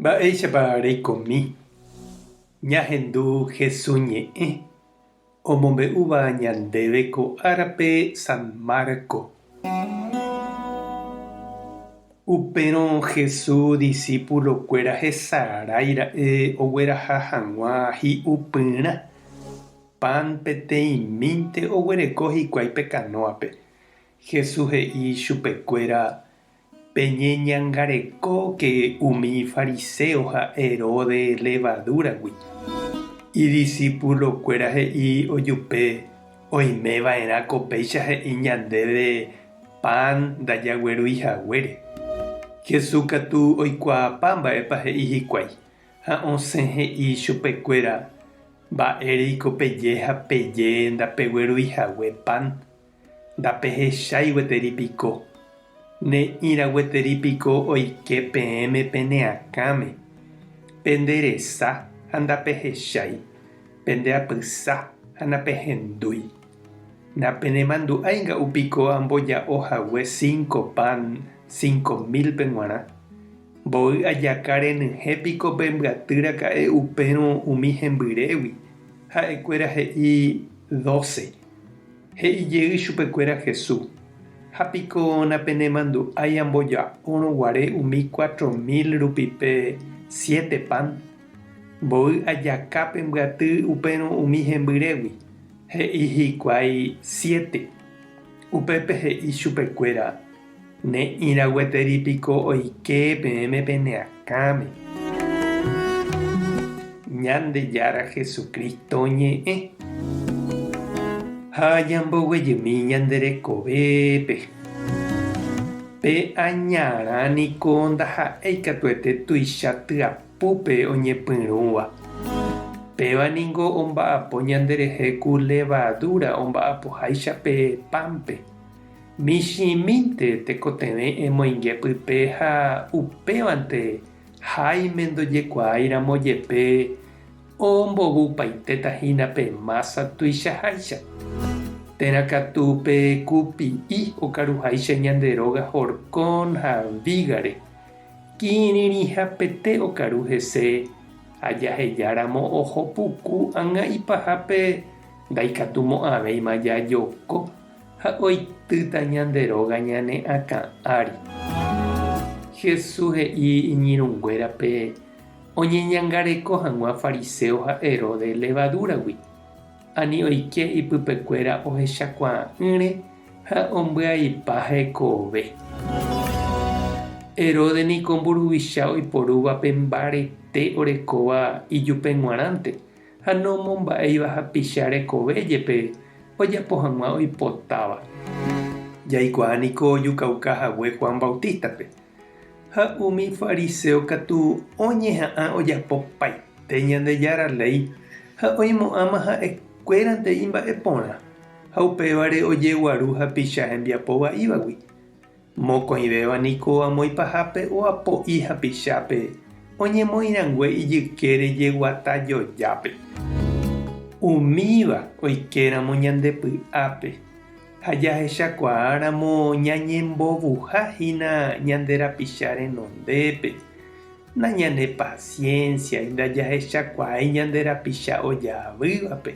Mba'éichapa reikomi ñahendu Jesús ñe'ẽ omombe'úva ñandéve ko árape San Marcos? Upérõ Jesús disípulokuéra hesarái ra'e ogueraha hag̃ua hi'u pyrã pan peteĩmínte oguereko hikuái pe kanóape. Jesús he'i chupekuéra Peñeñangarekóke umi fariséo ha Heróde levadúragui. Idisipulokuéra he'i ojupe, Oimeva'erã ko péicha he'i ñandéve pan ndajaguerúi haguére. Jesús katu oikuaapa mba'épa he'i hikuái, ha osẽ he'i chupekuéra, Mba'éreiko peje ha peje ndapeguerúi hague pan? Ndapehechái gueteri piko? Ne'ĩra gueteri piko oike peẽme pene akãme? Pende resa ha ndapehechái, pende apysa ha napehendúi. Napenemandu'ái nga'u piko amboja'o hague cinco pan cinco mil-pe g̃uarã? Mboy ajaka renyhẽ piko pe mbyaty raka'e upérõ umi hembyrégui? Ha'ekuéra he'i doce. He'i jey chupekuéra Jesús, Ha piko napenemandu'ái amboja'órõ guare umi cuatro mil rupi pe siete pan? Mboy ajaka pe mbyaty upérõ umi hembyrégui, he'i hikuái siete. Upépe he'i chupekuéra, Ne'ĩra gueteri piko oike peẽme pene akãme. Ñandejára Jesucristo ñe'ẽ. Ha ñamboguejymi ñande rekovépe. Pe añarã niko ndaha'éi katuete tuicha tyapúpe oñepyrũva. Péva ningo omba'apo ñanderehe ku levadura omba'apoháicha pe pánpe. Michĩmínte tekotevẽ emoinge pype ha upévante Jaime ndojekuaáiramo jepe ombovypaitéta hína pe mása tuichaháicha. Térã katu pe kupi'i okaruháicha ñande róga horcón ha vígare, kirirĩhapete okaru hese ha jahejáramo oho puku ágã ipahápe ndaikatumo'ãvéima jajoko. Ha oitýta ñande róga ñane akã ári. Jesús he'i iñirũnguérape oñeñangareko hag̃ua fariséo ha Herodes levadúragui, ani oike ipypekuéra ohechakuaa'ỹre ha ombyaipa hekove. Herodes niko mburuvicha oiporúva pe mbarete orekóva ijupe g̃uarãnte. ha nomomba'éiva hapicha rekove jepe ojapo hag̃ua oipotáva. Jaikuaa niko ojukauka hague Juan Bautista-pe, ha umi fariseo katu oñeha'ã ojapopaite Ñandejára léi ha oimo'ãma ha'e kuérante imba'e porã, ha upévare ojeguaru hapicha hembiapo va'ívagui. Mokõivéva niko amoĩ pahápe oapo'i hapichápe oñemoĩ rangue ijykére jeguata jojápe. Umíva oikéramo ñande py'ápe ha jahechakuaáramo ñañembovuha hína ñande rapicha renondépe, nañanepasiénsiai ndajahechakuaái ñande rapicha ojaavývape,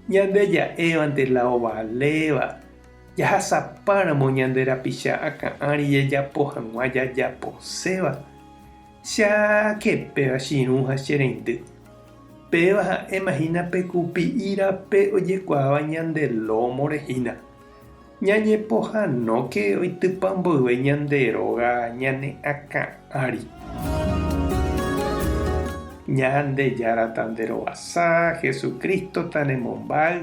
ñande ja'évante la ovaléva Jahasapáramo ñande rapicha akã ári jajapo hag̃ua jajaposéva, che ake péva chirũ ha che reindy. Péva ha'éma hína pe kupi'i rape ojekuaáva ñande lómore hína. Ñañepohanóke oitypa mboyve ñande róga ñane akã ári. Ñandejára tanderovasa, Jesucristo tanemombáy.